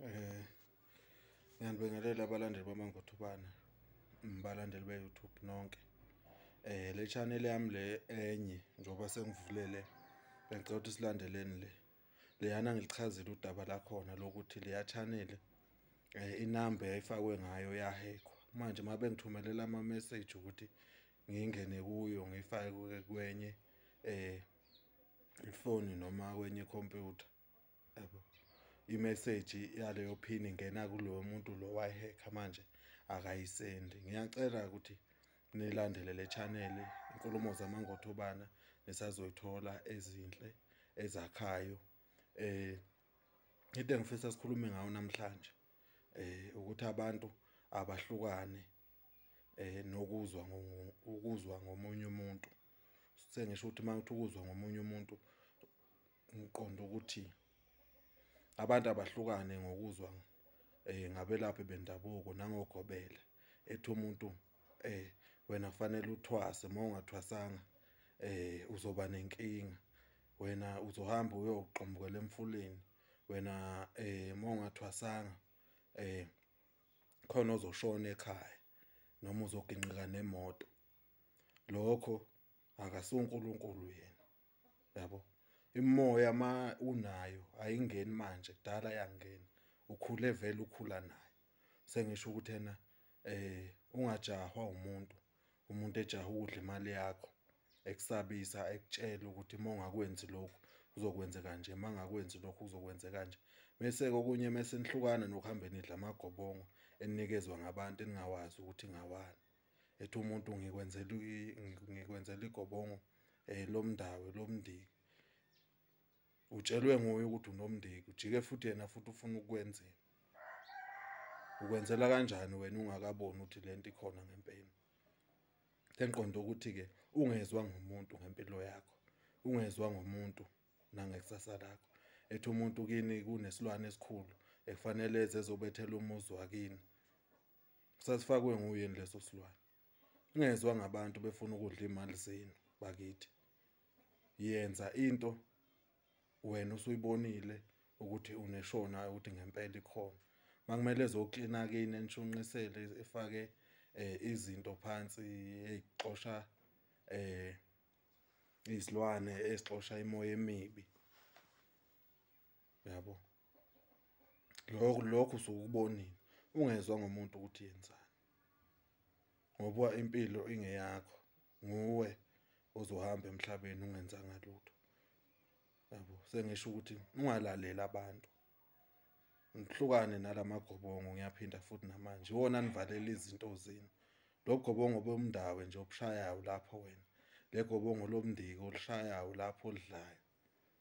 Eh ngiyanibingelela abalandeli bamangothubana mbalandeli be YouTube nonke. Eh le channel yami le enye njoba sengivulele bengicela ukuthi silandeleni le. Leyana ngilichazile udaba la khona lokuthi leya channel eh inamba yayifakwe ngayo yahekwa. Manje mabe ngithumelela ama message ukuthi ngingene kuyo ngifake kwenye eh ifoni noma kwenye computer yabo imeseji yaleyo phini ngena kulowo muntu lo wayihekha manje akayisendi ngiyacela ukuthi nilandele le channel inkulumo zamangothobana nisazoyithola ezinhle ezakhayo eh into engifisa sikhulume ngayo namhlanje eh ukuthi abantu abahlukane eh nokuzwa ukuzwa ngomunye umuntu sengisho ukuthi mawuthi ukuzwa ngomunye umuntu ngiqonda ukuthi abantu abahlukane ngokuzwa eh ngabelaphi bendabuko nangogobela ethi umuntu eh wena kufanele uthwase uma ungathwasanga eh uzoba nenkinga wena uzohamba uyoqombukela emfuleni wena eh uma ungathwasanga eh khona ozoshona ekhaya noma uzoginqika nemoto lokho akasuNkulunkulu yena yabo imoya ma unayo ayingeni manje kudala yangena ukhule vele ukhula nayo sengisho ukuthi ena eh ungajahwa umuntu umuntu ejaha ukudla imali yakho ekusabisa ekutshela ukuthi uma ungakwenzi lokhu uzokwenza kanje uma ngakwenzi lokhu uzokwenza kanje mese kokunye mese nihlukana nokuhambeni idla amagobongo enikezwa ngabantu eningawazi ukuthi ngawani ethi umuntu ngikwenzela ngikwenzela igobongo eh lomndawe lomndiki utshelwe nguye ukuthi unomndiki ujike futhi yena futhi ufuna ukwenzela ukwenzela kanjani wena ungakaboni ukuthi lento ikhona ngempela sengiqonda ukuthi ke ungezwa ngomuntu ngempilo yakho ungezwa ngomuntu nangekusasa lakho ethi umuntu kini kunesilwane esikhulu ekufanele ezezobethela umuzi wakini sasifakwe nguyeni leso silwane ngezwa ngabantu befuna ukudla imali zenu bakithi yenza into wena usuyibonile ukuthi uneshona ukuthi ngempela ikhona makumele zoklina kini enishunqisele ifake eh, izinto phansi ezixosha eh izilwane ezixosha imoya emibi uyabo lokho lokho usukubonile ungezwa ngomuntu ukuthi yenzani ngoba impilo ingeyakho nguwe ozohamba emhlabeni ungenzanga lutho yabo sengisho ukuthi ungalaleli abantu ngihlukane nalamagobongo ngiyaphinda futhi namanje wona nivalela izinto zenu lobugobongo bomndawe nje obushayayo lapho wena legobongo lomndiki olushayayo lapho olidlayo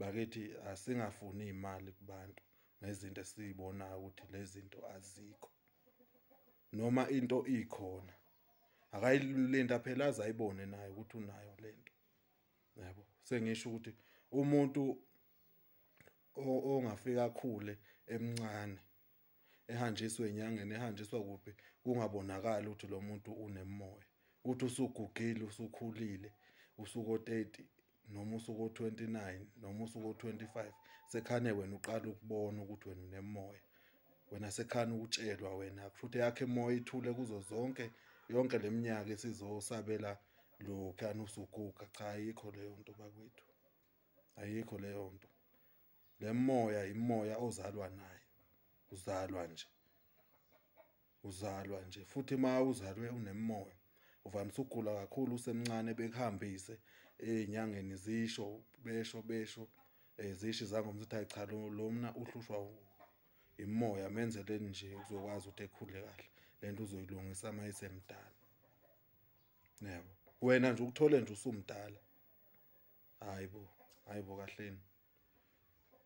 Bakithi asingafuni imali kubantu ngezinto esizibonayo ukuthi lezinto azikho. Noma into ikhona. Akayilinda phela azayibone naye ukuthi unayo lento. Yabo, sengisho ukuthi umuntu ongafika khule emncane ehanjiswe enyangeni ehanjiswa kuphi kungabonakali ukuthi lo muntu unemoya uthi usugugile usukhulile usuko 30 noma usuko 29 noma usuko 25 sekhane wena uqala ukubona ukuthi wena unemoya wena sekhane ukutshelwa wena futhi yakhe emoya ithule kuzo zonke yonke leminyaka esizosabela lokhu anusuguga cha ayikho leyo nto bakwethu ayikho leyo nto le moya imoya ozalwa nayo uzalwa nje uzalwa nje futhi uma uzalwe unemoya uvamise ukugula kakhulu usemncane bekuhambise ey'nyangeni zisho besho besho um zishi zangoma ukuthi ayi cha lo mna uhlushwa imoya menzeleni nje uzokwazi ukuthi ekhule kahle le nto uzoyilungisa uma isemdala yebo wena nje ukuthole nje usumdala hayi bo hayi bo kahleni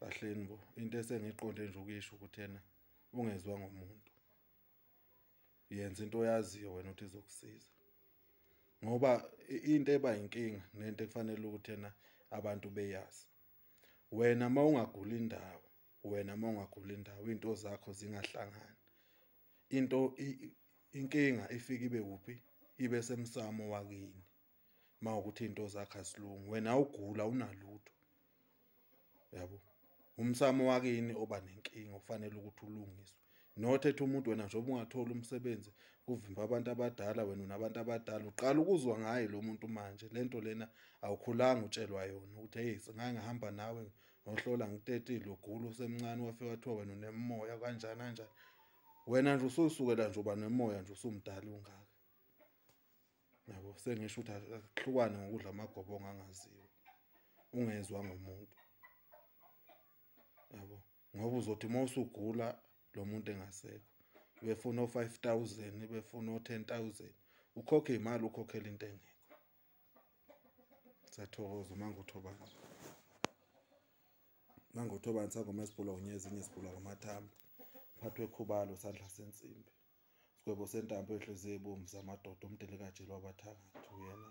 bahleni bo into esengiqonde nje ukuyisho ukuthi yena ungezwa ngomuntu yenza into oyaziyo wena ukuthi izokusiza ngoba into eba inkinga nento ekufanele ukuthi yena abantu beyazi wena uma ungagula indawo wena uma ungagula indawo into zakho zingahlangani into inkinga ifika ibe kuphi ibe semsamo wakini uma ukuthi into zakhe asilungi wena ugula unalutho yabo umsamo wakini oba nenkinga ufanele ukuthi ulungiswe not ethi umuntu wena njengoba ungatholi umsebenzi kuvimba abantu abadala wena unabantu abadala uqala ukuzwa ngaye lo muntu manje le nto lena awukhulanga utshelwa yona ukuthi heyi singake ngihamba nawe ngohlola ngitetile ugula usemncane wafika wathiwa wena unemoya kanjani kanjani wena nje ususukela nje uba nemoya nje usumdala ungaka yabo sengisho ukuthi akuhlukane ngokudla amagobo ongangaziwa ungezwa ngomuntu yabo ngoba uzothi uma usugula lo muntu engasekho befuna o-five thousand befuna o-ten thousand ukhokhe imali ukhokhela into engekho sathokoza uma ngothobana uma ngothobana sangoma esibhula unye ezinye sibhula ngamathamba phathwe khubalo sandla sensimbi Sigwebo sentambo enhliziyo ibomvu zamadoda umdelikaji lwabathakathi uyena.